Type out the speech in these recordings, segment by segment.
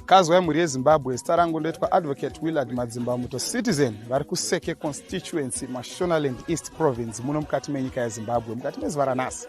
kazwai mhuri yezimbabwe zita rangu ndoitwa advocate willard madzimba muto citizen vari kuseke constituency mashonaland east province muno mukati menyika yezimbabwe mukati mezuva ranhasi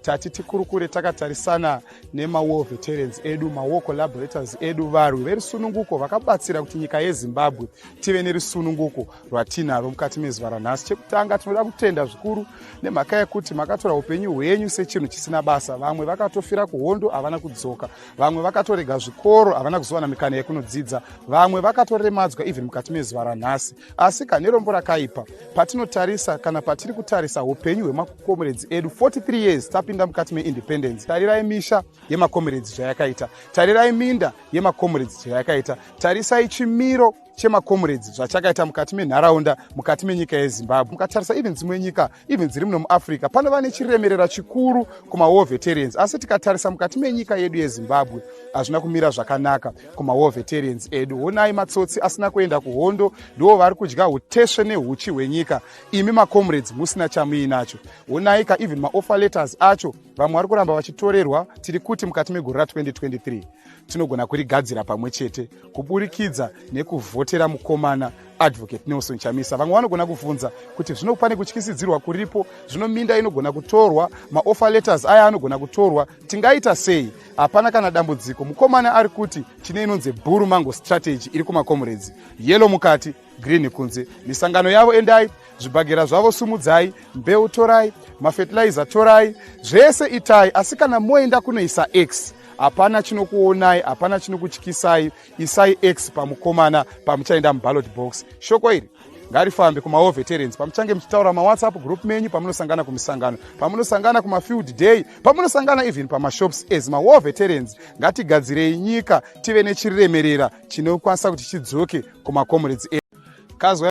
tati tikurukure takatarisana nemawar veterans edu mawar collaborators edu varwi verusununguko vakabatsira kuti nyika yezimbabwe tive nerusununguko rwatinaro mukati mezuva ranhasi chekutanga tinoda kutenda zvikuru nemhaka yekuti makatora upenyu hwenyu sechinhu chisina basa vamwe vakatofira kuhondo havana kudzoka vamwe vakatorega zvikoro havana kuzowana mikana yekunodzidza vamwe vakatoremadzwa even mukati mezuva ranhasi asi ka nerombo rakaipa patinotarisa kana patiri kutarisa upenyu hwemakomeredzi edu 43 years tapinda mukati meindependence tarirai misha yemakomeredzi zvayakaita tarirai minda yemakomeredzi zvayakaita tarisai chimiro chemakomeredzi zvachakaita mukati menharaunda mukati menyika yezimbabwe mukatarisa even dzimwe nyika even dziri muno muafrica panova nechiremerera chikuru kumawar veterans asi tikatarisa mukati menyika yedu yezimbabwe hazvina kumira zvakanaka kumawar veterans edu honai matsotsi asina kuenda kuhondo ndiwo vari kudya utesve neuchi hwenyika imi macomrades musina chamuinacho honai ka even maoffer letters acho vamwe vari kuramba vachitorerwa tiri kuti mukati megore ra 2023 tinogona kurigadzira pamwe chete kuburikidza nekuvhotera mukomana advocate nelson chamisa vamwe vanogona kubvunza kuti zvino pane kutyisidzirwa kuripo zvino minda inogona kutorwa maoffer letters aya anogona kutorwa tingaita sei hapana kana dambudziko mukomana ari kuti tine inonzi bhuru mango strategy iri kumakomuredzi yelo mukati green kunze misangano yavo endai zvibhagera zvavo sumudzai mbeu torai mafetilizer torai zvese itai asi kana moenda kunoisa x hapana chinokuonai hapana chinokutyisai isai x pamukomana pamuchaenda muballot box shoko iri ngarifambe kumahall veterans pamuchange muchitaura mawhatsapp group menyu pamunosangana kumisangano pamunosangana kumafield day pamunosangana even pamashops as mawall veterans ngatigadzirei nyika tive nechiriremerera chinokwanisa kuti chidzoke kumacomrades edu kazwa